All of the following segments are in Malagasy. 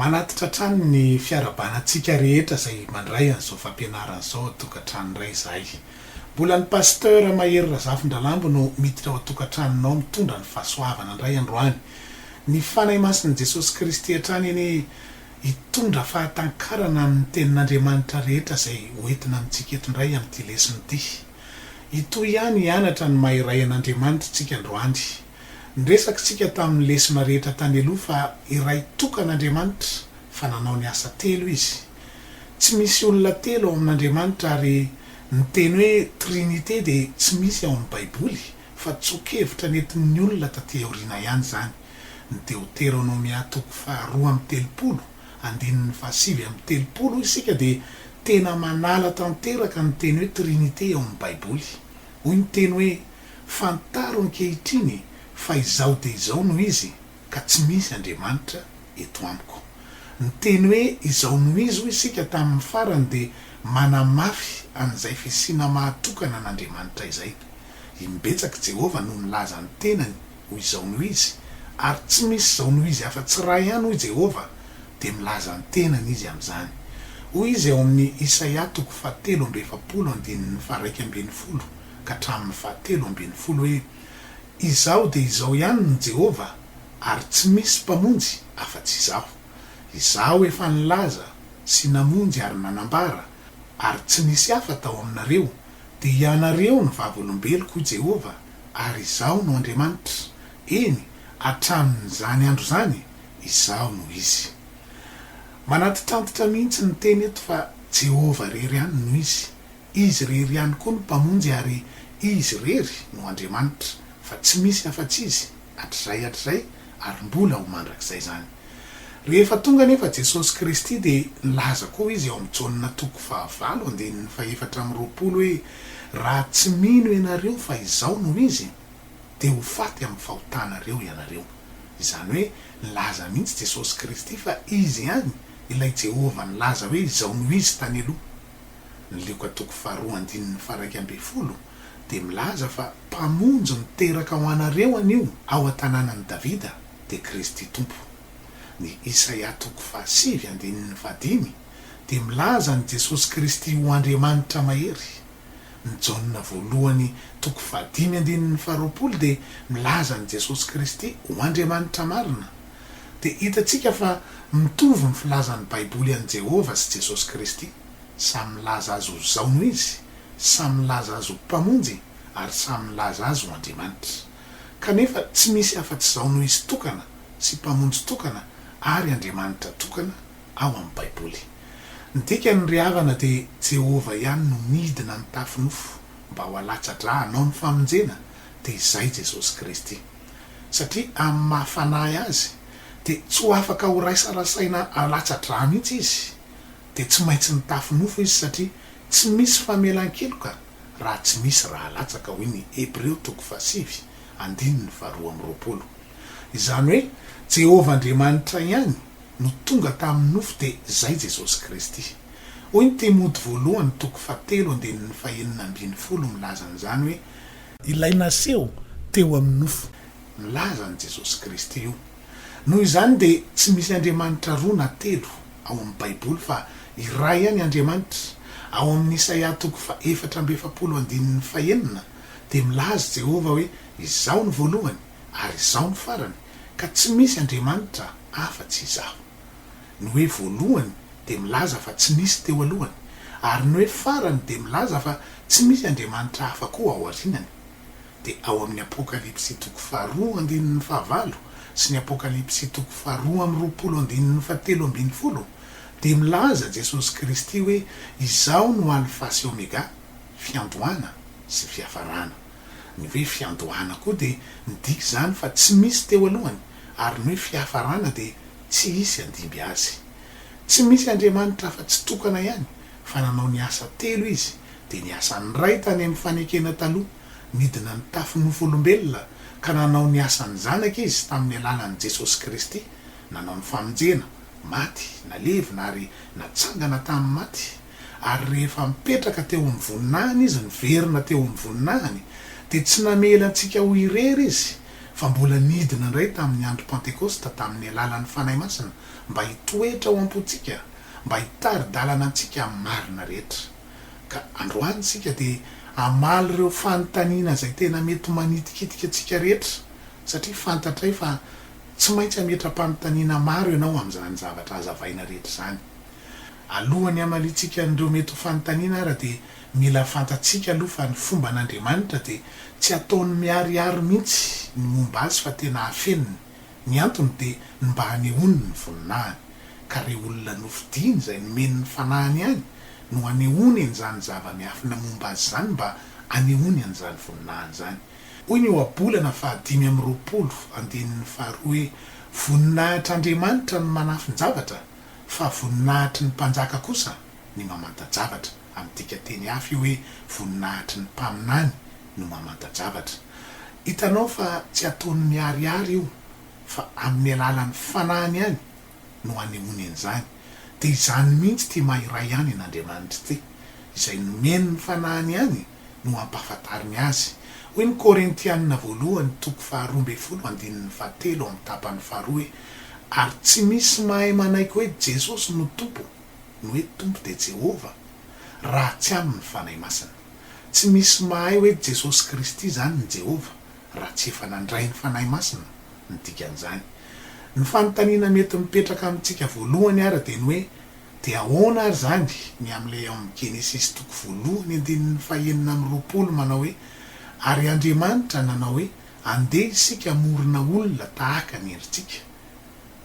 Manatitra hatrany ny fiarahabanatsika rehetra izay mandray an'izao fampianarana izao ao an-tokantrano indray izahay. Mbola ny Pasteur Mahery Razafindralambo no miditra ao an-tokantranonao mitondra ny fahasoavana indray androany. Ny Fanahy Masin'i Jesosy Kristy hatrany anie hitondra fahatankarana ny Tenin'Andriamanitra rehetra izay hoentina amintsika eto indray amin'ity lesona ity. Hitohy ihany hianatra ny maha iray an'Andriamanitra isika androany. Niresaka isika tamin'ny lesona rehetra tany aloha fa iray tokana Andriamanitra fa nanao ny asa telo Izy. Tsy misy olona telo ao amin'Andriamanitra ary ny teny hoe Trinite dia tsy misy ao amin'ny Baiboly fa tsoa-kevitra nentin'ny olona taty aoriana ihany izany. ny Deoteronomia toko faharoa amby telopolo, andininy fahasivy amby telopolo, hoy isika, dia tena manala tanteraka ny teny hoe Trinite ao amin'ny Baiboly. Hoy ny teny hoe, Fantaro ankehitriny fa izao dia izao no izy, ka tsy misy andriamanitra eto amiko. Ny teny hoe izao no izy, hoy isika, tamin'ny farany dia manamafy an'izay fisiana mahatokana an'Andriamanitra izay. Imbetsaka i Jehovah no nilaza ny tenany. hoy izao noho izy, ary tsy misy izao noho izy afa-tsy iray ihany, hoy Jehovah, dia milaza ny tenany izy amin'izany. Hoy izy ao amin'ny Isaia toko fahatelo amby efapolo andininy faharaika ambin'ny folo ka hatramin'ny fahatelo ambin'ny folo hoe, Izaho dia izao ihany no Jehovah, ary tsy misy mpamonjy afa-tsy Izaho. Izaho efa nilaza sy namonjy ary nanambara, ary tsy nisy hafa tao aminareo, dia ianareo ny vavolombeloko, hoy Jehovah, ary Izaho no Andriamanitra, eny, hatramin'izany andro izany, Izaho no izy. Manantitrantitra mihitsy ny teny eto fa Jehovah irery ihany no izy. Izy irery ihany koa no Mpamonjy ary Izy irery no Andriamanitra, fa tsy misy afa-tsy Izy, hatrizay hatrizay ary mbola ho mandrakizay izany. Rehefa tonga anefa Jesosy Kristy dia nilaza koa Izy ao amin'i Jaona toko fahavalo andininy fahefatra amby roapolo hoe, Raha tsy mino ianareo fa Izaho no Izy, dia ho faty amin'ny fahotanareo ianareo. Izany hoe nilaza mihitsy Jesosy Kristy fa Izy ihany ilay Jehovah nilaza hoe Izaho no Izy tany aloha. Ny Lioka toko faharoa andininy faharaika ambin'ny folo dia milaza fa Mpamonjy miteraka ho anareo anio ao an-tanànan'i Davida dia Kristy Tompo. Ny Isaia toko fahasivy andininy fahadimy dia milaza an'i Jesosy Kristy ho Andriamanitra mahery. Ny Jaona voalohany toko fahadimy andininy faharoapolo dia milaza an'i Jesosy Kristy ho Andriamanitra marina dia hitantsika fa mitovy ny filazan'ny Baiboly an'i Jehovah sy Jesosy Kristy. Samy milaza azy ho Zaony izy, samy milaza azy ho Mpamonjy, ary samy milaza azy ho Andriamanitra. Kanefa tsy misy afa-tsy Zaony ho izy tokana sy Mpamonjy tokana ary Andriamanitra tokana ao amin'ny Baiboly. Ny dikan'ny ry havana dia Jehovah ihany no nidina nitafy nofo mba ho alatsa-dra hanao ny famonjena, dia izay Jesosy Kristy. satria amin'ny maha fanahy azy dia tsy ho afaka ho raisarasaina alatsa-drà mihitsy izy, dia tsy maintsy nitafy nofo izy satria tsy misy famelan-keloka raha tsy misy rà latsaka, hoy ny Hebreo toko fahasivy andininy faharoa amby roapolo. Izany hoe Jehovah Andriamanitra ihany no tonga tamin'ny nofo dia izay Jesosy Kristy. Hoy ny Timoty voalohany toko fahatelo andininy fahenina ambin'ny folo milaza an'izany hoe Ilay naseho teo amin'ny nofo. Milaza an'i Jesosy Kristy io. Noho izany dia tsy misy Andriamanitra roa na telo ao amin'ny Baiboly fa iray ihany Andriamanitra. Ao amin'ny Isaia toko fahefatra amby efapolo andininy fahenina dia milaza Jehovah hoe Izaho ny voalohany ary Izaho ny farany ka tsy misy Andriamanitra afa-tsy Izaho. Ny hoe voalohany dia milaza fa tsy nisy teo alohany, ary ny hoe farany dia milaza fa tsy misy andriamanitra hafa koa aorianany. Dia ao amin'ny Apokalypsy toko faharoa andininy fahavalo sy ny Apokalypsy toko faharoa amby roapolo andininy fahatelo ambin'ny folo dia milaza Jesosy Kristy hoe Izaho no Alfa sy Omega, fiandohana sy fiafarana. Ny hoe fiandohana koa dia midika izany fa tsy misy teo alohany, ary ny hoe fiafarana dia Tsy hisy handimby azy. Tsy misy Andriamanitra afa-tsy tokana ihany, fa nanao ny asa telo izy, dia ny asan'ny Ray tany amin'ny fanekena taloha, nidina nitafy nofo-olombelona, ka nanao ny asan'ny Zanaka izy tamin'ny alalan'i Jesosy Kristy, nanao ny famonjena, maty, nalevina ary natsangana tamin'ny maty, ary rehefa mipetraka teo amin'ny voninahiny izy niverina teo amin'ny voninahiny, dia tsy namela antsika ho irery izy, fa mbola nidina indray tamin'ny andro Pantekosta tamin'ny alalan'ny Fanahy Masina mba hitoetra ao am-pontsika, mba hitari-dalana antsika amin'ny marina rehetra. Ka androany isika dia hamaly ireo fanontaniana izay tena mety manitikitika antsika rehetra, satria fantatray fa tsy maintsy hametra-panontaniana maro ianao amin'izany zavatra hazavaina rehetra izany. Alohan'ny hamaliantsika an'ireo mety ho fanontaniana ara dia. Mila fantatsika aloha fa ny fomban' Andriamanitra dia tsy ataony miharihary mihitsy ny momba Azy fa tena afeniny. Ny antony dia ny mba hanehoany ny voninahiny. Ka rey olona nofidiany izay nomeny ny fanahiny ihany no hanehoany an'izany zava-miafina momba Azy izany mba hanehoany an'izany voninahiny izany. Hoy ny Ohabolana fahadimy amby roapolo, andininy faharoa hoe, Voninahitr'A ndriamanitra ny manafin-javatra, fa voninahitry ny mpanjaka kosa ny mamanta-javatra. Midika teny hafa io hoe voninahitr'i ny mpaminany no mamanta-javatra. Hitanao fa tsy ataony miharihary io fa amin'ny alalan'ny fanahiny ihany no anehoany an'izany. Dia izany mihitsy ity mahiray ihany an'Andriamanitra ity. Izay nomeny ny fanahiny ihany no ampahafantariny azy. Hoy ny Korintianina voalohany toko faharoa ambin'ny folo andininy fahatelo amin'ny tapany faharoa hoe ary tsy misy mahay manaiky hoe Jesosy no Tompo ny hoe Tompo dia Jehovah, raha tsy amin' ny Fanahy Masina. Tsy misy mahay hoe Jesosy Kristy izany ny Jehovah, raha tsy efa nandray ny Fanahy Masina ny dikan'izany. Ny fanontaniana mety mipetraka amintsika voalohany àry dia ny hoe, Dia ahoana àry izany ny amin'ilay ao amin'ny Genesisy toko voalohany andininy fahenina amby roapolo manao hoe, Ary Andriamanitra nanao hoe, Andeha isika hamorona olona tahaka ny endritsika,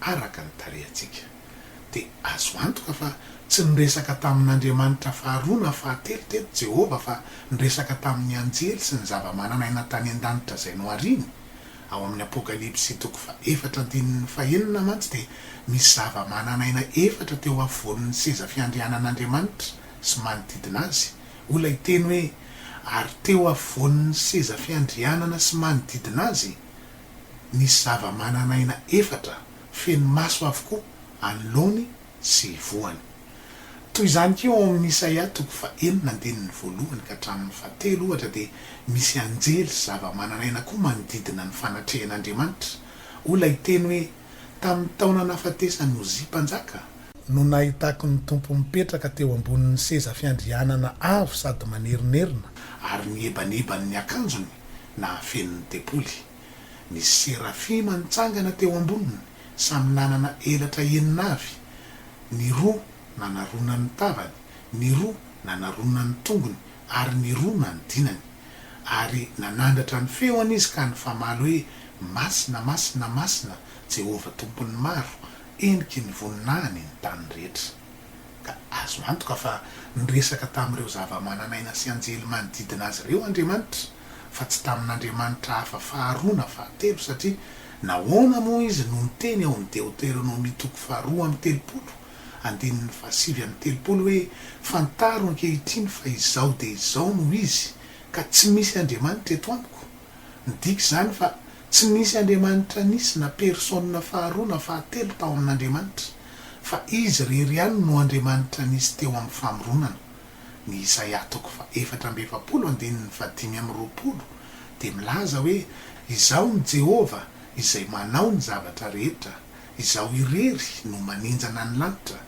araka ny tarehantsika. dia azo antoka fa tsy niresaka tamin'andriamanitra faharoa na fahatelo teto Jehovah fa niresaka tamin'ny anjely sy ny zava-manan'aina tany an-danitra izay nohariny. Ao amin'ny Apokalypsy toko fahefatra andininy fahenina mantsy dia misy zava-manan'aina efatra teo afovoan'ny seza fiandrianan'Andriamanitra sy manodidina azy. Hoy ilay teny hoe ary teo afovoan'ny seza fiandrianana sy manodidina azy nisy zava-manan'aina efatra. feno maso avokoa anoloany sy hivohany. Toy izany koa ao amin'ny Isaia toko fahenina andininy voalohany ka hatramin'ny fahatelo, ohatra, dia misy anjely sy zavamananaina koa manodidina ny fanatrehan'Andriamanitra. Hoy ilay teny hoe, Tamin'ny taona nahafatesan'i Ozia Mpanjaka, no nahitako ny Tompo mipetraka teo ambonin'ny seza fiandrianana avo sady manerinerina, ary ny ebaneban'ny akanjony nahafeno ny tempoly. Ny serafima nitsangana teo amboniny, samy nanana elatra enina avy, ny roa nanarona ny tavany, ny roa nanarona ny tongony, ary ny roa nanodinany. Ary nanandratra ny feony izy ka nifamaly hoe, Masina, masina, masina, Jehovah Tompon'ny maro, heniky ny voninahiny ny tany rehetra. Ka azo antoka fa niresaka tamin'ireo zavamananaina sy anjely manodidina azy ireo Andriamanitra, fa tsy tamin'andriamanitra hafa faharoa na fahatelo, satria nahoana moa izy no niteny ao amin'ny Deoteronomia toko faharoa amby telopolo, andininy fahasivy amby telopolo hoe, Fantaro ankehitriny fa izao dia izao no izy, ka tsy misy andriamanitra eto amiko? Midika izany fa tsy nisy andriamanitra nisy na persona faharoa na fahatelo tao amin'Andriamanitra. fa Izy irery ihany no Andriamanitra nisy teo amin'ny famoronana. Ny Isaia toko fahefatra amby efapolo andininy fahadimy amby roapolo dia milaza hoe, Izaho ny Jehovah izay manao ny zavatra rehetra, izaho irery no maninjana ny lanitra,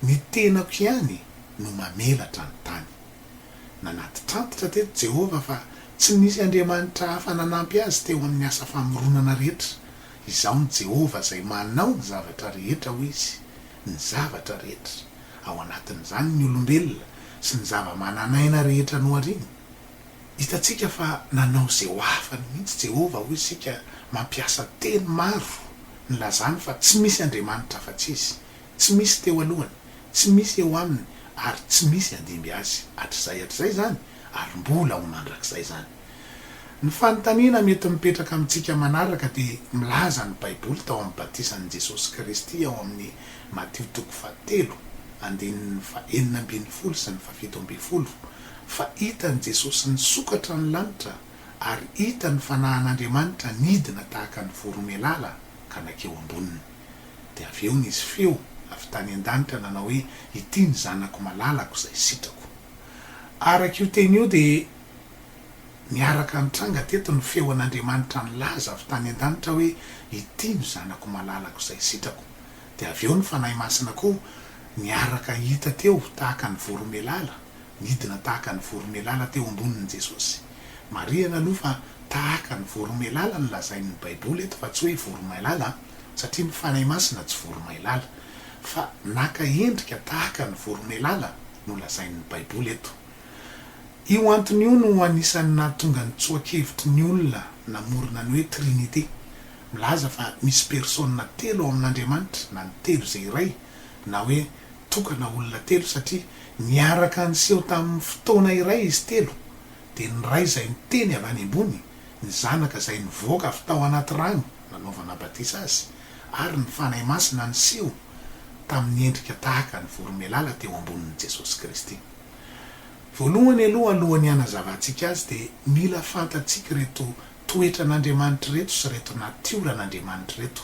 ny tenako ihany no mamelatra ny tany. Nanatitrantitra teto Jehovah fa tsy nisy andriamanitra hafa nanampy azy teo amin'ny asa famoronana rehetra Izaho ny Jehovah izay manao ny zavatra rehetra, hoy izy, ny zavatra rehetra, ao anatin'izany ny olombelona sy ny zavamananaina rehetra nohariany. Hitantsika fa nanao izay ho afany mihitsy Jehovah, hoy isika, mampiasa teny maro nilazany fa tsy misy Andriamanitra afa-tsy izy, tsy misy teo alohany, tsy misy eo aminy ary tsy misy handimby azy hatrizay hatrizay izany ary mbola ho mandrakizay izany. Ny fanontaniana mety mipetraka amintsika manaraka dia milaza ny Baiboly tao amin'ny batisan'i Jesosy Kristy ao amin'ny Matio toko fahatelo, andininy fahenina ambin'ny folo sy ny fahafito ambin'ny folo, fa hitan'i Jesosy nisokatra ny lanitra ary hita ny fanahin'Andriamanitra nidina tahaka ny voromailala ka nankeo amboniny. Dia avy eo nisy feo avy tany an-danitra nanao hoe, Ity ny Zanako malalako izay sitrako. Araka io teny io dia Niaraka nitranga teto ny feon'Andriamanitra nilaza avy tany an-danitra hoe, Ity no Zanako malalako izay sitrako. Dia avy eo ny Fanahy Masina koa niaraka hita teo tahaka ny voromailala, nidina tahaka ny voromailala teo ambonin'i Jesosy. Marihana aloha fa tahaka ny voromailala no lazain'ny Baiboly eto fa tsy hoe voromailala, satria ny Fanahy Masina tsy voromailala. Fa naka endrika tahaka ny voromailala no lazain'ny Baiboly eto. Io antony io no anisan'ny nahatonga ny tsoa-kevitry ny olona namorona ny hoe Trinite, milaza fa misy persona telo ao amin'Andriamanitra na ny telo izay iray, na hoe tokana olona telo satria niaraka niseho tamin'ny fotoana iray izy telo, dia ny Ray izay niteny avy any ambony, ny Zanaka izay nivoaka avy tao anaty rano nanaovana batisa Azy, ary ny Fanahy Masina niseho tamin'ny endrika tahaka ny voromailala teo ambonin'i Jesosy Kristy. Voalohany aloha alohan'ny hanazavantsika azy dia mila fantatsika ireto toetran'Andriamanitra ireto sy ireto natioran'Andriamanitra ireto.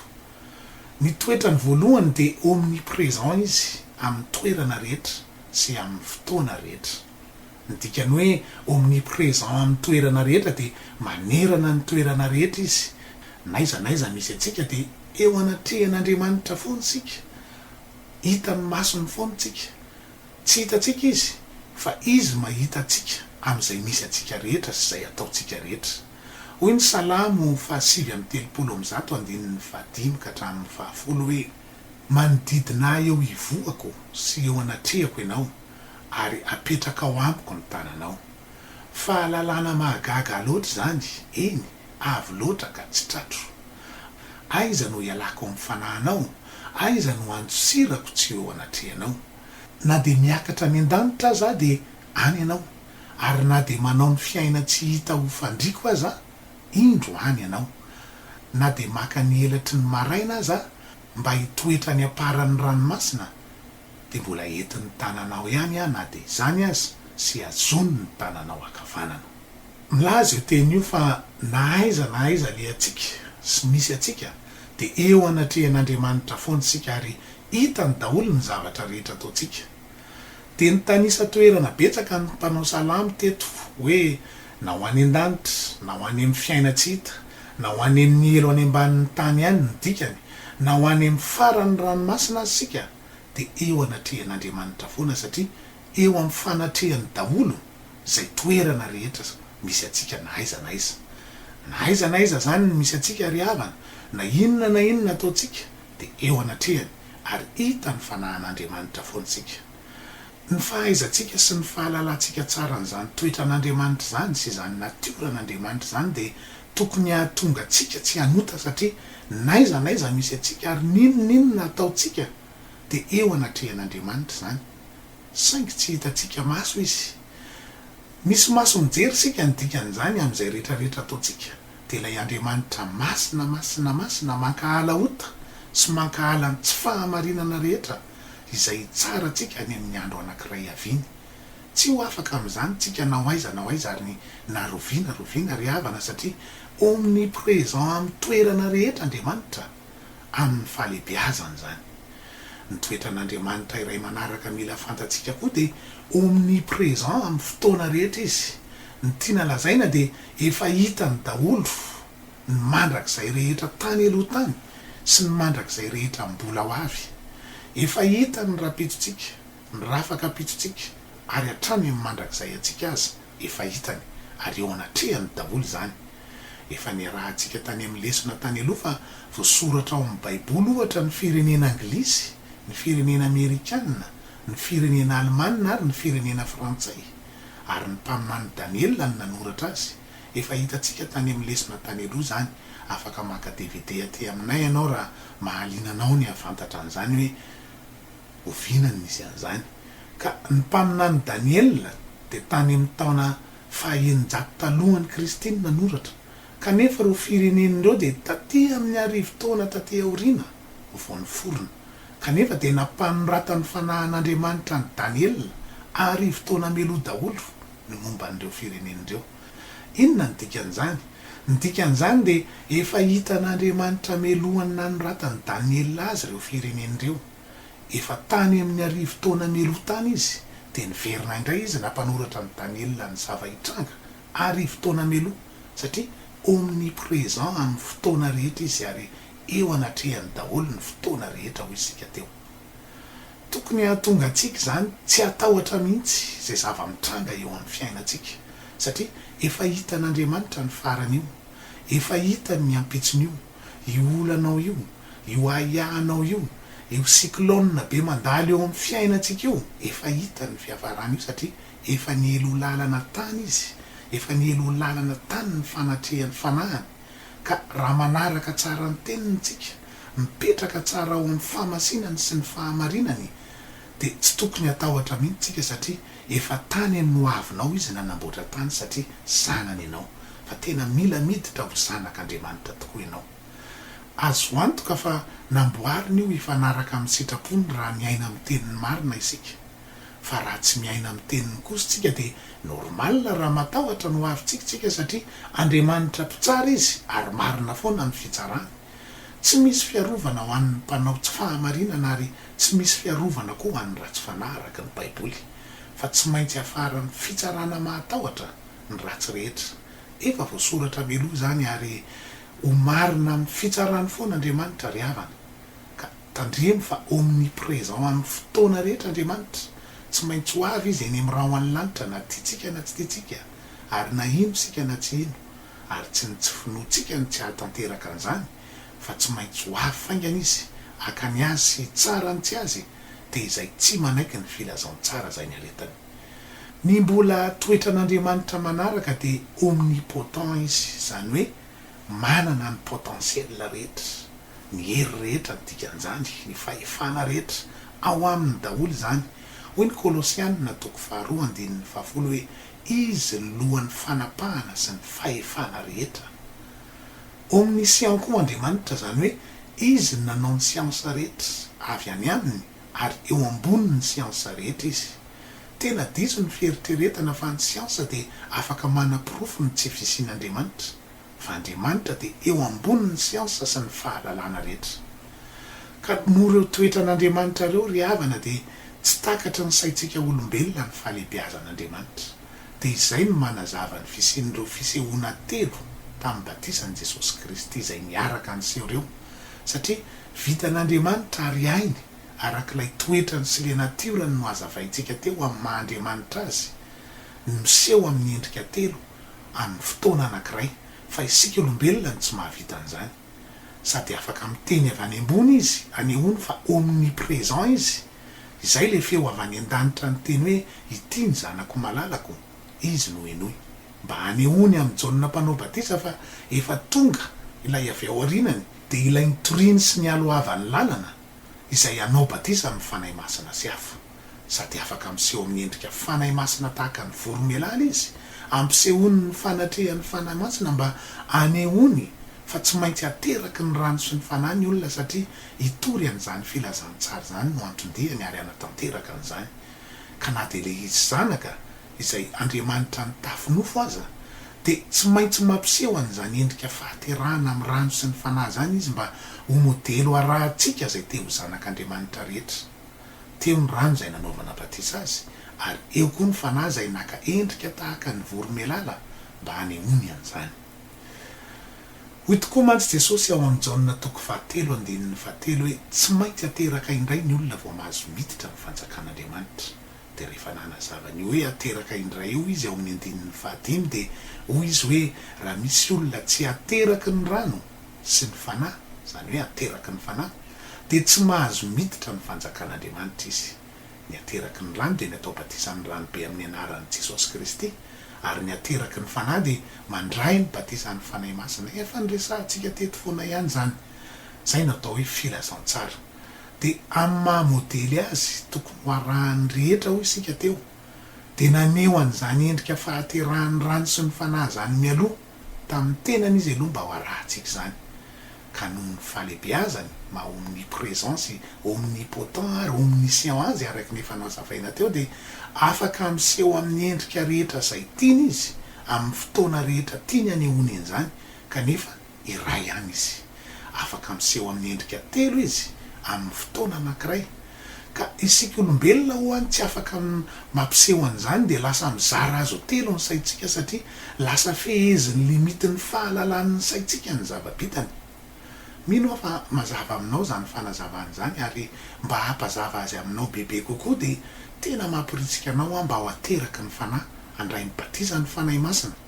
Ny toetrany voalohany dia omnipresent izy amin'ny toerana rehetra sy amin'ny fotoana rehetra. Ny dikan'ny hoe omnipresent amin'ny toerana rehetra dia manerana ny toerana rehetra izy. N'aiza n'aiza misy antsika dia eo anatrehan'Andriamanitra foana isika, hitan'ny masony foana isika, Tsy hitantsika Izy, fa Izy mahita antsika amin'izay misy antsika rehetra sy izay ataontsika rehetra. Hoy ny Salamo fahasivy amby telopolo amby zato andininy fahadimy ka hatramin'ny fahafolo hoe, Manodidina ahy eo ivohako sy eo anatrehako Ianao, ary apetrakao amiko ny tananao. Fahalalana mahagaga loatra izany, eny, Avo loatra ka tsy tratro. Aiza no ialako amin'ny fanahinao? Aiza no andosirako tsy eo anatrehanao? Na dia miakatra any an-danitra aza aho dia any ianao, ary na dia manao ny fiaina tsy hita ho fandriako aza aho, indro any ianao. Na dia maka ny elatry ny maraina aza aho mba hitoetra any am-paran'ny ranomasina, dia mbola entin'ny tananao ihany aho na dia izany aza, sy hazon'ny tananao ankavanana. Milaza io teny io fa na aiza na aiza alehantsika sy misy antsika dia eo anatrehan'Andriamanitra foana isika ary hitany daholo ny zavatra rehetra ataontsika. Dia nitanisa toerana betsaka ny mpanao salamo teto hoe na ho any an-danitra, na ho any amin'ny fiaina tsy hita, na ho any amin'ny helo any ambanin'ny tany any ny dikany, na ho any amin'ny faran'ny ranomasina aza isika dia eo anatrehan'Andriamanitra foana satria eo amin'ny fanatrehany daholo izay toerana rehetra misy antsika na aiza na aiza. Na aiza na aiza izany no misy antsika ry havana, na inona na inona ataontsika dia eo anatrehany ary hita ny fanahan'Andriamanitra foana isika. Ny fahaizantsika sy ny fahalalantsika tsara an'izany toetran'Andriamanitra izany sy izany natioran'Andriamanitra izany dia tokony hahatonga antsika tsy hanota satria n'aiza n'aiza misy antsika ary n'inon'inona ataontsika dia eo anatrehan'Andriamanitra izany. saingy tsy hitantsika maso izy. Misy maso mijery isika ny dikan'izany amin'izay rehetra rehetra ataontsika. Dia ilay Andriamanitra masina masina masina mankahala ota sy mankahala ny tsy fahamarinana rehetra izay hitsara antsika any amin'ny andro anankiray haviany. Tsy ho afaka amin'izany tsika na ho aiza na ho aiza ary ny na roviana roviana ry havana satria omnipresent amin'ny toerana rehetra Andriamanitra. amin'ny fahalehibeazany izany. Ny toetran'Andriamanitra iray manaraka mila fantatsika koa dia omnipresent amin'ny fotoana rehetra izy. Ny tiana lazaina dia efa hitany daholo ny mandrakizay rehetra tany aloha tany sy ny mandrakizay rehetra mbola ho avy. Efa hitany ny rapetontsika. Mirafaka am-pitsontsika ary hatrany amin'ny mandrakizay antsika aza efa hitany ary eo anatrehany daholo izany. Efa niarahantsika tany amin'ny lesona tany aloha fa voasoratra ao amin'ny baiboly ohatra ny firenena anglisy, ny firenena amerikana, ny firenena alemana ary ny firenena frantsay. Ary ny mpaminany Daniela no nanoratra azy. Efa hitantsika tany amin'ny lesona tany aloha izany. Afaka maka dvd aty aminay ianao raha mahaliana anao ny hahafantatra an'izany hoe Oviana no nisy an'izany? Ka ny mpaminany Daniela dia tany amin'ny taona faha-eninjato talohan'i Kristy no nanoratra, kanefa ireo firenena ireo dia taty amin'ny arivo taona taty aoriana vao niforona. Kanefa dia nampanoratan'ny fanahin'Andriamanitra an'i Daniela arivo taona mialoha daholo ny momba an'ireo firenena ireo. Inona no dikan'izany? Ny dikan'izany dia efa hitan'Andriamanitra mialohan'ny nanoratan'i Daniela azy ireo firenena ireo. Efa tany amin'ny arivo taona mialoha tany izy, dia niverina indray izy nampanoratra an'i Daniela ny zava-hitranga arivo taona mialoha, satria omnipresent amin'ny fotoana rehetra izy ary eo anatrehany daholo ny fotoana rehetra hoy isika teo. Tokony hahatonga antsika izany tsy hatahotra mihitsy izay zava-mitranga eo amin'ny fiainantsika, satria efa hitan'Andriamanitra ny faran'io, efa hitany ny ampitson'io. io olanao io, io ahiahinao io, io cyclone be mandalo eo amin'ny fiainantsika io, efa hitany io fiafarana io satria efa niely ho lalana tany izy, efa niely ho lalana tany ny fanatrehan'ny fanahiny, ka raha manaraka tsara ny teniny isika, mipetraka tsara ao amin'ny fahamasinany sy ny fahamarinany, dia tsy tokony hatahotra mihitsy tsika satria efa tany any ho avinao izy nanamboatra tany satria zanany ianao fa tena mila miditra ho zanak Andriamanitra tokoa ianao. Azo antoka fa namboariny io hifanaraka amin'ny sitrapony raha miaina amin'ny teniny marina isika. Fa raha tsy miaina amin'ny teniny kosa tsika dia normal raha matahotra ny ho avintsika tsika satria Andriamanitra mpitsara izy ary marina foana ny fitsarany. Tsy misy fiarovana ho an'ny mpanao tsy fahamarinana ary tsy misy fiarovana koa ho an'ny ratsy fanahy araka ny Baiboly, fa tsy maintsy hiafaran'ny fitsarana mahatahotra ny ratsy rehetra. Efa voasoratra mialoha izany ary ho marina amin'ny fitsarany foana Andriamanitra ry havana. Ka tandremo fa omnipresent amin'ny fotoana rehetra Andriamanitra, tsy maintsy ho avy Izy eny amin'ny rahona ny lanitra na tiantsika na tsy tiantsika ary na hino isika na tsy hino. ary tsy ny tsy finoantsika no tsy hahatanteraka an'izany fa tsy maintsy ho avy faingana izy haka ny azy sy hitsara ny tsy azy dia izay tsy manaiky ny filazantsara izay niaretany. Ny mbola toetran'Andriamanitra manaraka dia omnipotent izy izany hoe manana ny potentiel rehetra, ny hery rehetra ny dikan'izany, ny fahefana rehetra ao aminy daholo izany, hoy ny Kolosiana toko faharoa andininy fahafolo hoe Izy ny lohan'ny fanapahana sy ny fahefana rehetra. Omniscient koa Andriamanitra, izany hoe Izy no nanao ny siansa rehetra avy any Aminy ary eo ambonin'ny siansa rehetra Izy. Tena diso ny fieritreretana fa ny siansa dia afaka manaporofo ny tsy fisian'Andriamanitra. fa Andriamanitra dia eo ambonin'ny siansa sy ny fahalalana rehetra. Ka noho ireo toetran'Andriamanitra ireo, ry havana, dia tsy takatry ny saintsika olombelona ny fahalehibeazan'Andriamanitra. Dia izay no manazava ny fisian'ireo fisehoana telo tamin'ny batisan'i Jesosy Kristy izay niaraka niseho ireo, satria vitan'Andriamanitra ary hainy arak'ilay toetrany sy ilay natiorany nohazavaintsika teo amin'ny maha Andriamanitra Azy no miseho amin'ny endrika telo amin'ny fotoana anankiray, fa isika olombelona no tsy mahavita an'izany. Sady afaka miteny avy any ambony izy, anehoany fa omnipresent izy, izay ilay feo avy any an-danitra niteny hoe, Ity ny Zanako malalako, Izy no henoy. Mba hanehoany amin'i Jaona Mpanao Batisa fa efa tonga ilay avy ao aorianany, dia ilay nitoriany sy nialohavan'ny lalana, izay hanao batisa amin'ny Fanahy Masina sy afo, sady afaka miseho amin'ny endrika Fanahy Masina tahaka ny voromailala izy, ampisehoany ny fanatrehan'ny Fanahy Masina mba hanehoany fa tsy maintsy ateraky ny rano sy ny Fanahy ny olona satria hitory an'izany filazantsara izany no anton-diany ary hanatanteraka an'izany ka na dia ilay izy zanaka izay andriamanitra nitafy nofo aza, dia tsy maintsy mampiseho an'izany endrika fahaterahana amin'ny rano sy ny Fanahy izany izy mba ho modely ho arahantsika izay te ho zanak'Andriamanitra rehetra. Teo ny rano izay nanaovana batisa azy, ary eo koa ny Fanahy izay naka endrika tahaka ny voromailala mba hanehoany an'izany. Hoy tokoa mantsy Jesosy ao amin'ny Jaona toko fahatelo andininy fahatelo hoe tsy maintsy ateraka indray ny olona vao mahazo miditra ny fanjakan'Andriamanitra. Dia rehefa nanazava an'io hoe hateraka indray io izy ao amin'ny andininy fahadimy dia hoy izy hoe raha misy olona tsy ateraky ny rano sy ny Fanahy, izany hoe ateraky ny Fanahy, dia tsy mahazo miditra ny fanjakan'Andriamanitra izy. Ny ateraky ny rano dia ny atao batisa amin'ny ranobe amin'ny anaran'i Jesosy Kristy, ary ny ateraky ny Fanahy dia mandray ny batisan'ny Fanahy Masina. Efa niresahantsika teto foana ihany izany. Izay no atao hoe filazantsara. Dia amin'ny maha modely azy tokony ho arahan'ny rehetra hoy isika teo, dia naneho an'izany endrika fahaterahan'ny rano sy ny Fanahy izany mialoha tamin'ny tenany izy aloha mba ho arahantsika izany. Ka noho ny fahalebeazany maha omnipresent sy omnipotent ary omniscient azy araka ny efa nazavaina teo dia afaka miseho amin'ny endrika rehetra izay tiany izy amin'ny fotoana rehetra tiany anehoany an'izany kanefa iray ihany izy. Afaka miseho amin'ny endrika telo izy amin'ny fotoana anankiray. Ka isika olombelona ho'a tsy afaka mampiseho an'izany dia lasa mizara azy ho telo ny saintsika satria lasa fehezin'ny limitin'ny fahalalan'ny saintsika ny zava-bitany. Mino aho fa mazava aminao izany fanazavana izany ary mba hampazava azy aminao bebe kokoa dia tena mamporitsika anao aho mba ho ateraky ny fanahy handray ny batisa ny Fanahy Masina.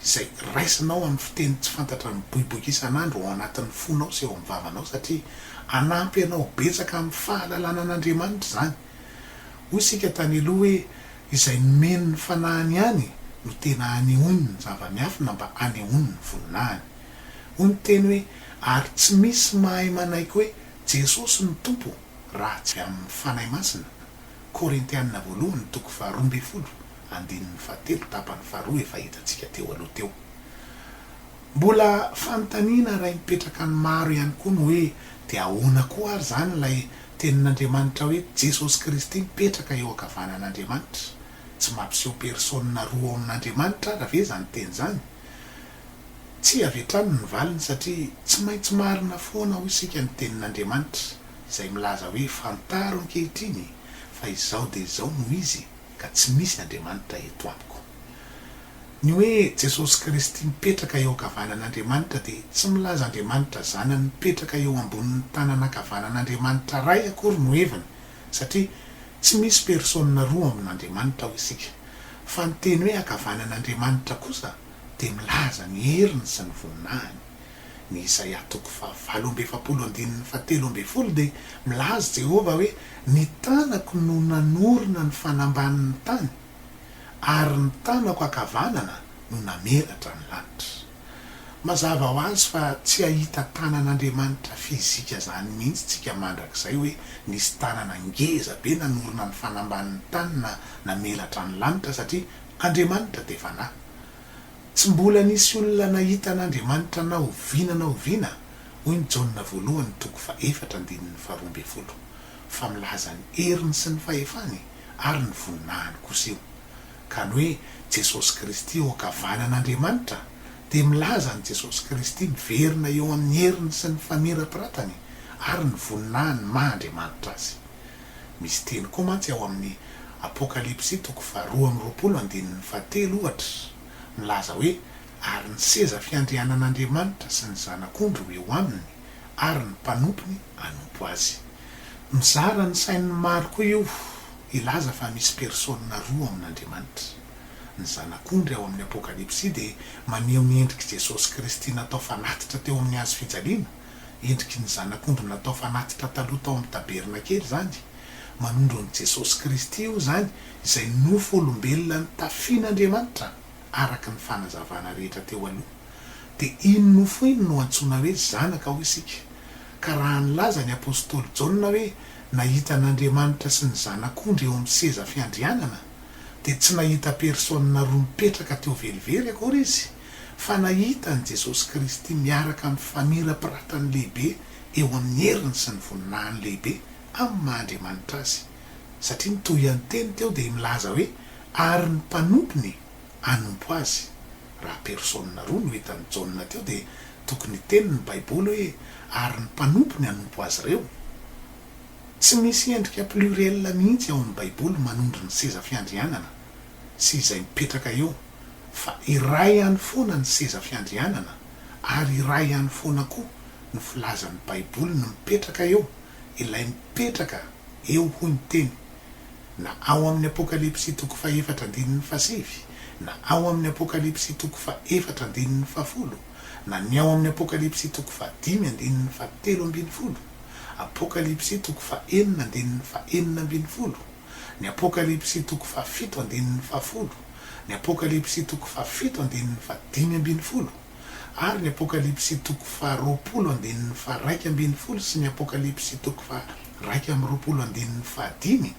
izay raisinao amin'ny fiteny tsy fantatra miboiboika isan'andro ao anatin'ny fonao sy eo amin'ny vavanao satria hanampy anao betsaka amin'ny fahalalana an'Andriamanitra izany. Hoy isika tany aloha hoe izay nomeny ny fanahiny ihany no tena hanehoany ny zava-miafina mba hanehoany ny voninahiny. Hoy ny teny hoe ary tsy misy mahay manaiky hoe Jesosy no Tompo. Raha tsy amin'ny Fanahy Masina, Korintiana voalohany toko faharoa ambin'ny folo andininy fahatelo tapany faharoa efa hitantsika teo aloha teo. Mbola fanontaniana iray mipetraka ny maro ihany koa ny hoe dia ahoana koa ary izany ilay tenin'Andriamanitra hoe Jesosy Kristy mipetraka eo ankavanan'Andriamanitra? Tsy mampiseho persona roa ao amin'Andriamanitra ara ve izany teny izany? Tsia avy hatrany ny valiny satria tsy maintsy marina foana hoy isika ny tenin'Andriamanitra izay milaza hoe fantaro ankehitriny fa izao dia izao no izy ka tsy misy Andriamanitra eto amiko. Ny hoe Jesosy Kristy mipetraka eo ankavanan'Andriamanitra dia tsy milaza Andriamanitra zanany mipetraka eo ambonin'ny tanana ankavanan'Andriamanitra Ray akory no heviny satria tsy misy persôna roa amin'Andriamanitra hoy isika fa ny teny hoe ankavanan'Andriamanitra kosa dia milaza ny heriny sy ny voninahiny. Ny Isaia toko fahavalo amby efapolo andininy fahatelo ambin'ny folo dia milaza i Jehovah hoe, Ny tanako no nanorina ny fanambanin'ny tany, ary ny tanako ankavanana no namelatra ny lanitra. Mazava ho azy fa tsy hahita tanan'Andriamanitra fizika izany mihitsy isika mandrakizay hoe nisy tanana ngeza be nanorina ny fanambanin'ny tany na namelatra ny lanitra, satria Andriamanitra dia fanahy. Tsy mbola nisy olona nahita an'Andriamanitra na oviana na oviana, hoy ny Jaona voalohany toko fahefatra andininy faharoa ambin'ny folo, fa milaza ny heriny sy ny fahefany ary ny voninahiny kosa io. Ka ny hoe Jesosy Kristy eo ankavanan'Andriamanitra dia milaza an'i Jesosy Kristy miverina eo amin'ny heriny sy ny famirapiratany ary ny voninahiny maha Andriamanitra azy. Misy teny koa mantsy ao amin'ny Apokalypsy toko faharoa amby roapolo andininy fahatelo, ohatra, milaza hoe, Ary ny seza fiandrianan'Andriamanitra sy ny Zanak'ondry ho eo aminy, ary ny mpanompony hanompo azy. Mizara ny sain'ny maro koa io hilaza fa misy persona roa ao amin'Andriamanitra. Ny Zanak'ondry ao amin'ny Apokalypsy dia maneho ny endrik'i Jesosy Kristy natao fanatitra teo amin'ny hazo fijaliana. Endriky ny zanak'ondry natao fanatitra taloha tao amin'ny tabernakely izany. Manondro an'i Jesosy Kristy io izany, izay nofo olombelona notafian'Andriamanitra araka ny fanazavana rehetra teo aloha. Dia iny nofo iny no antsoina hoe zanaka hoy isika. Ka raha nilaza ny apostoly Jaona hoe nahita an'Andriamanitra sy ny zanak'ondry eo amin'ny seza fiandrianana, dia tsy nahita persona roa mipetraka teo velively akory izy. fa nahita an'i Jesosy Kristy miaraka amin'ny famirapiratany lehibe eo amin'ny heriny sy ny voninahiny lehibe amin'ny maha Andriamanitra Azy, satria ny tohian-teny teo dia milaza hoe ary ny mpanompony hanompo Azy. Raha persona roa no hitan'i Jaona teo dia tokony hiteny ny Baiboly hoe ary ny mpanompony hanompo azy ireo. Tsy misy endrika pluriel mihitsy ao amin'ny Baiboly manondro ny seza fiandrianana. sy izay mipetraka eo fa iray ihany foana ny seza fiandrianana ary iray ihany foana koa ny filazan'ny baiboly ny mipetraka eo ilay mipetraka eo hoy ny teny na ao amin'ny apokalypsy toko faha efatra andininy faha sivy na ao amin'ny apokalypsy toko faha efatra andininy faha folo na ny ao amin'ny apokalypsy toko faha dimy andininy faha telo ambin'ny folo apokalypsy toko faha enina andininy faha enina ambin'ny folo Ny Apokalypsy toko fahafito andininy fahafolo, ny Apokalypsy toko fahafito andininy fahadimy ambin'ny folo, ary ny Apokalypsy toko faharoapolo andininy faharaika ambin'ny folo sy ny Apokalypsy toko faharaika amby roapolo andininy fahadimy,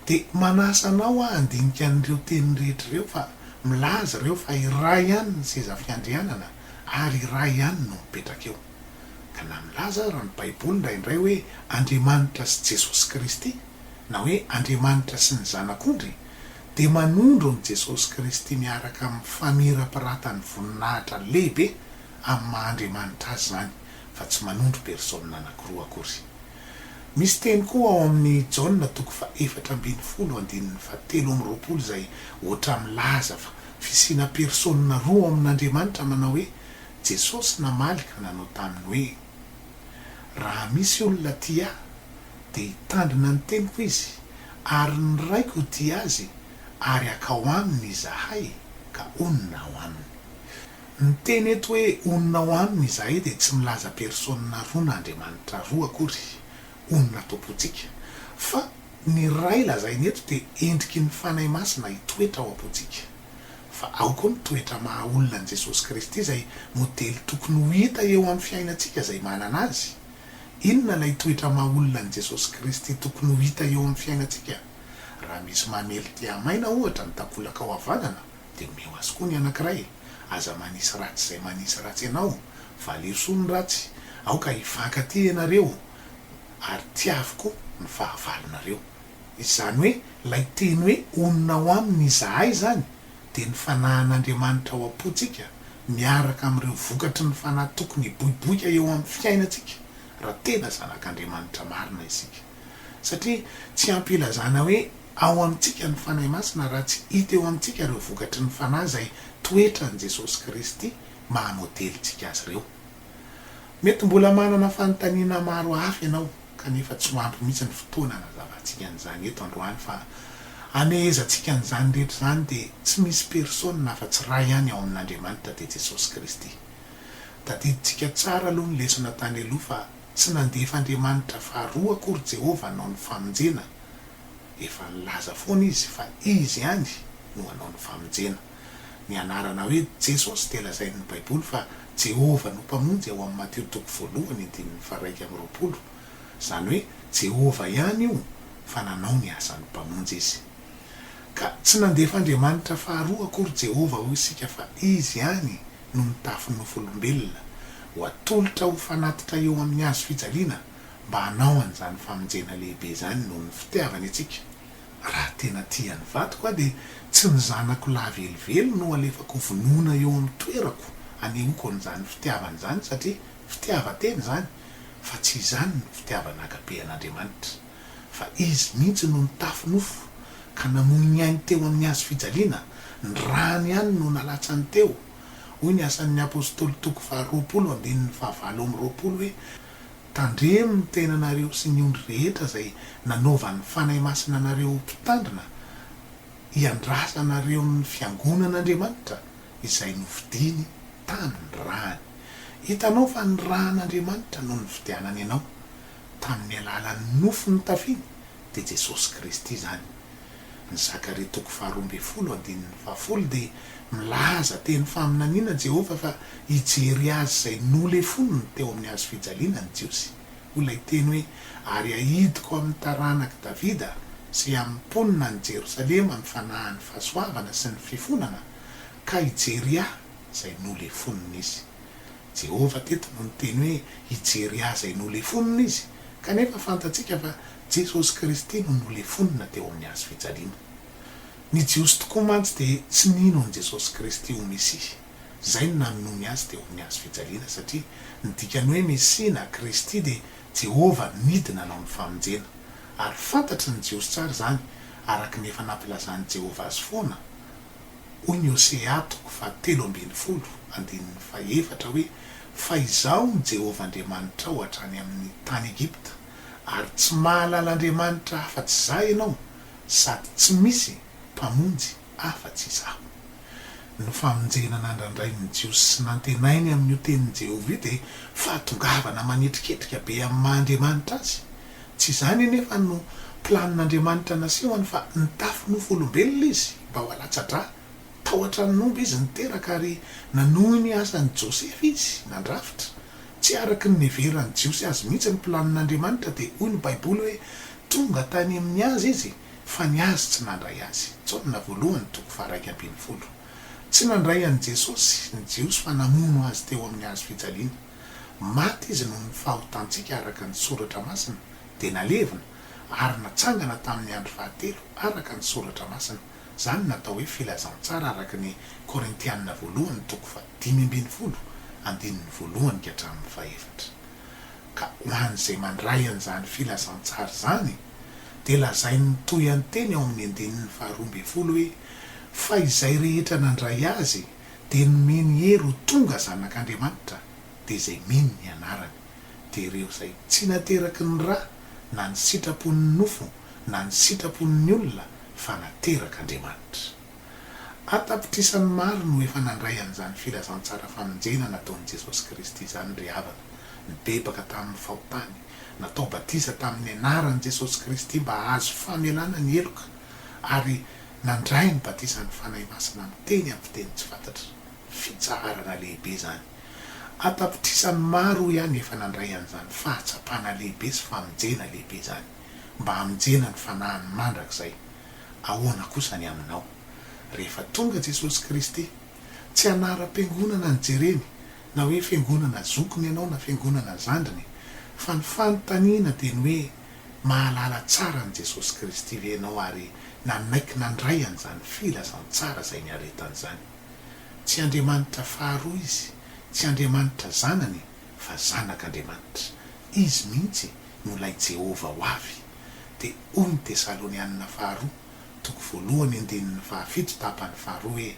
dia manasa anao aho handinika an'ireo teny rehetra ireo fa milaza ireo fa iray ihany ny seza fiandrianana ary iray ihany no mipetraka eo. Ka na milaza aza ny Baiboly indraindray hoe Andriamanitra sy Jesosy Kristy, na hoe Andriamanitra sy ny Zanak'ondry, dia manondro an'i Jesosy Kristy miaraka amin'ny famirapiratan'ny voninahitra lehibe amin'ny maha-Andriamanitra Azy izany, fa tsy manondro persôna anankiroa akory. Misy teny koa ao amin'ny Jaona toko fahefatra ambin'ny folo andininy fahatelo amby roapolo izay hoatra milaza fa fisiana persôna roa ao amin'Andriamanitra manao hoe, Jesosy namaly ka nanao taminy hoe, Raha misy olona tia ahy, dia hitandrina ny teniko izy, ary ny Raiko hitia azy, ary hakao aminy Izahay, ka honina ao aminy. Ny teny eto hoe honina ao aminy Izahay dia tsy milaza persôna roa na andriamanitra roa akory, honina ato-pontsika, fa ny Ray lazaina eto dia endriky ny Fanahy Masina hitoetra ao am-pontsika. Fa ao koa ny toetra maha-olona an'i Jesosy Kristy izay modely tokony ho hita eo amin'ny fiainantsika izay manana Azy. Inona ilay toetra maha olona an'i Jesosy Kristy tokony ho hita eo amin'ny fiainantsika? Raha misy mamely te hamaina, ohatra, ny takolakao havanana, dia omeo azy koa ny anankiray. Aza manisy ratsy izay manisy ratsy anao. Valio soa ny ratsy. Aoka hifankatia ianareo, ary tiaviko ny fahavalonareo. Izany hoe, ilay teny hoe onona ao aminy izahay izany dia ny fanahin'Andriamanitra ao am-pontsika miaraka amin'ireo vokatry ny fanahy tokony hiboiboika eo amin'ny fiainantsika raha tena zanak'Andriamanitra marina isika. Satria tsy ampy hilazana hoe ao amintsika ny Fanahy Masina raha tsy hita eo amintsika ireo vokatry ny fanahy izay toetran'i Jesosy Kristy maha-modelintsika azy ireo. Mety mbola manana fanontaniana maro hafa ianao kanefa tsy ho ampy mihitsy ny fotoana hanazavantsika an'izany eto androany fa hamehezantsika an'izany rehetra izany dia tsy misy personne afa-tsy Ray ihany ao amin'Andriamanitra dia Jesosy Kristy. Tadidintsika tsara aloha ny lesona tany aloha fa tsy nandefa Andriamanitra faharoa akory Jehovah hanao ny famonjena, efa nilaza foana Izy fa Izy ihany no hanao ny famonjena. Ny anarana hoe Jesosy dia lazain'ny Baiboly fa Jehovah no Mpamonjy ao amin'ny Matio toko voalohany andininy faharaika amby roapolo. Izany hoe Jehovah ihany io fa nanao ny asany Mpamonjy izy. Ka tsy nandefa Andriamanitra faharoa akory Jehovah ho isika fa izy ihany no nitafy nofolombelona ho atolotra ho fanatitra eo amin'ny hazo fijaliana mba hanao an'izany famonjena lehibe izany noho ny fitiavany antsika. Raha tena tia ny vadiko aho dia tsy ny zanako lahy velively no alefako ho vonoina eo amin'ny toerako hanehoako an'izany fitiavana izany satria fitiavan-tena izany fa tsy izany no fitiavana agape an'Andriamanitra fa Izy mihitsy no nitafy nofo ka namoy ny ainy teo amin'ny hazo fijaliana, ny rany ihany no nalatsany teo. Hoy ny Asan'ny Apostoly toko faha roapolo andininy fahavalo amby roapolo hoe. Tandremo ny tenanareo sy ny ondry rehetra izay nanaovan'ny Fanahy Masina anareo ho mpitandrina hiandrasanareo ny fiangonan'Andriamanitra izay nofidiny tamin' ny rany. Hitanao fa ny ran' Andriamanitra no nividianany anao tamin'ny alalan'ny nofo notafiny dia Jesosy Kristy izany. Ny Zakaria toko faharoa ambin'ny folo andininy fahafolo dia milaza teny faminaniana Jehovah fa hijery azy izay nolefoniny teo amin'ny hazo fijaliana ny Jiosy. Hoy ilay teny hoe, Ary hahidiko amin'ny taranak'i Davida sy amin'ny mponina any Jerosalema ny fanahin'ny fahasoavana sy ny fifonana, ka hijery ahy izay nolefonina izy. Jehovah teto no niteny hoe hijery azy hay nolefonina izy, kanefa fantatsika fa Jesosy Kristy no nolefonina teo amin'ny hazo fijaliana. Ny Jiosy tokoa mantsy dia tsy nino an'i Jesosy Kristy ho Mesia. Izay no nanonony azy teo amin'ny hazo fijaliana, satria ny dikan'ny hoe Mesia na Kristy dia Jehovah nidy nanao ny famonjena. Ary fantatry ny Jiosy tsara izany, araka ny efa nampilazan'i Jehovah azy foana. Hoy ny Hosea toko fahatelo ambin'ny folo andininy fahefatra hoe, Fa izaho no Jehovah Andriamanitrao hatrany amin'ny tany Egypta, ary tsy mahalala andriamanitra afa-tsy izaho ianao, sady tsy misy mpamonjy afa-tsy izaho. Ny famonjena nandrandrain'ny Jiosy sy nantenainy amin'io tenin'i Jehovah io dia fahatongavana manetriketrika be amin'ny maha Andriamanitra azy. Tsy izany anefa no planin'Andriamanitra nasehony fa nitafy nofo olombelona izy mba ho alatsa-drà. Tao an-tranon' omby izy niteraka ary nanohy ny asan'i Josefa izy nandrafitra. Tsy araka ny niheveran'ny Jiosy azy mihitsy ny planin'Andriamanitra dia hoy ny Baiboly hoe tonga tany amin'ny azy izy fa ny azy tsy nandray azy. Jaona voalohany toko faha-iraika ambin'ny folo. Tsy nandray an'i Jesosy ny Jiosy fa namono azy teo amin'ny hazofijaliana. Maty izy noho ny fahotantsika araka ny Soratra Masina, dia nalevina, ary natsangana tamin'ny andro fahatelo araka ny Soratra Masina, izany no atao hoe filazantsara araka ny Korintianina Voalohany toko fahadimy ambin'ny folo, andininy voalohany ka hatramin'ny fahefatra. Ka ho an'izay mandray an'izany filazantsara izany, dia lazainy mitohy an-teny ao amin'ny andininy faharoa ambin'ny folo hoe, Fa izay rehetra nandray azy, dia nomeny hery ho tonga zanak' Andriamanitra, dia izay mino ny anarany. Dia ireo izay tsy nateraky ny ra na ny sitrapon' ny nofo na ny sitrapon' ny olona, fa naterak' Andriamanitra. An-tapitrisany maro no efa nandray an' izany filazantsara famonjena nataon' i Jesosy Kristy izany ry havana, nibebaka tamin' ny fahotany, natao batiza tamin' ny anaran' i Jesosy Kristy mba hahazo famelana ny heloka, ary nandray ny batisan'ny Fanahy Masina miteny amin'ny fiteny tsy fantatra. Fitsaharana lehibe izany! An-tapitrisany maro ihany efa nandray an'izany fahatsapana lehibe sy famonjena lehibe izany, mba hamonjena ny fanahiny mandrakizay. Ahoana kosa ny aminao? Rehefa tonga Jesosy Kristy, tsy anaram-piangonana ny jereny, na hoe fiangonana zokiny ianao na fiangonana zandriny, fa ny fanontaniana dia ny hoe, Mahalala tsara an'i Jesosy Kristy ve ianao ary nanaiky nandray an'izany filazantsara izay niaretany izany? Tsy Andriamanitra faharoa Izy, tsy Andriamanitra Zanany, fa Zanak'Andriamanitra. Izy mihitsy no ilay Jehovah ho avy. Dia hoy ny Tesalonianina Faharoa, toko voalohany andininy fahafito tapany faharoa hoe,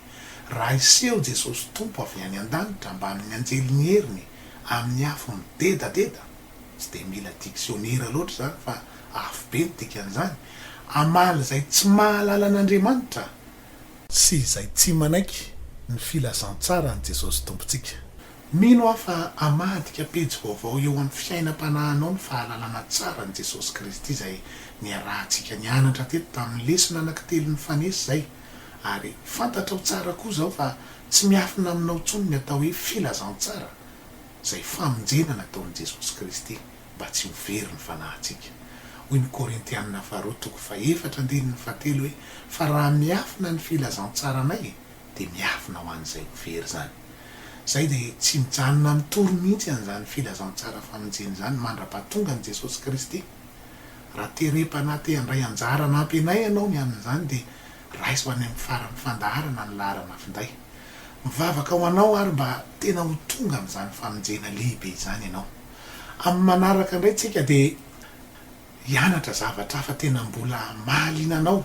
Raha hiseho Jesosy Tompo avy any an-danitra mbamin'ny anjelin'ny heriny amin'ny afo midedadeda, Tsy dia mila diksionera loatra izany fa afobe ny dikan'izany, Hamaly izay tsy mahalala an'Andriamanitra sy izay tsy manaiky ny filazantsaran'i Jesosy Tompontsika. Mino aho fa hamadika pejy vaovao eo amin'ny fiainam-panahinao ny fahalalana tsara an'i Jesosy Kristy izay niarahantsika nianatra teto tamin'ny lesona anankitelo nifanesy izay, ary fantatrao tsara koa izao fa tsy miafina aminao intsony ny atao hoe filazantsara. izay famonjena nataon'i Jesosy Kristy mba tsy ho very ny fanahintsika. Hoy ny Korintiana faharoa toko fahefatra andininy fahatelo hoe, Fa raha miafina ny filazantsaranay dia miafina ho an'izay ho very izany. Izay dia tsy mijanona mitory mihitsy an'izany filazantsara famonjena izany mandra-pahatonga an'i Jesosy Kristy. Raha terem-panahy te handray anjara hanampy anay ianao ny amin'izany dia Raiso any amin'ny faran'ny fandaharana ny laharana finday. Mivavaka ho anao ary mba tena ho tonga amin'izany famonjena lehibe izany ianao. Amin'ny manaraka indray tsika dia hianatra zavatra hafa tena mbola mahaliana anao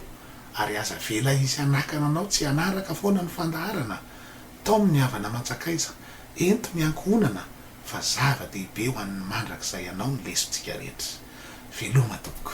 ary aza avela hisy hanakana anao tsy hanaraka foana ny fandaharana. Tom ny havana aman-tsakaiza, ento ny ankohonana fa zava-dehibe ho an'ny mandrakizay anao ny lesontsika rehetra. Veloma tompoko.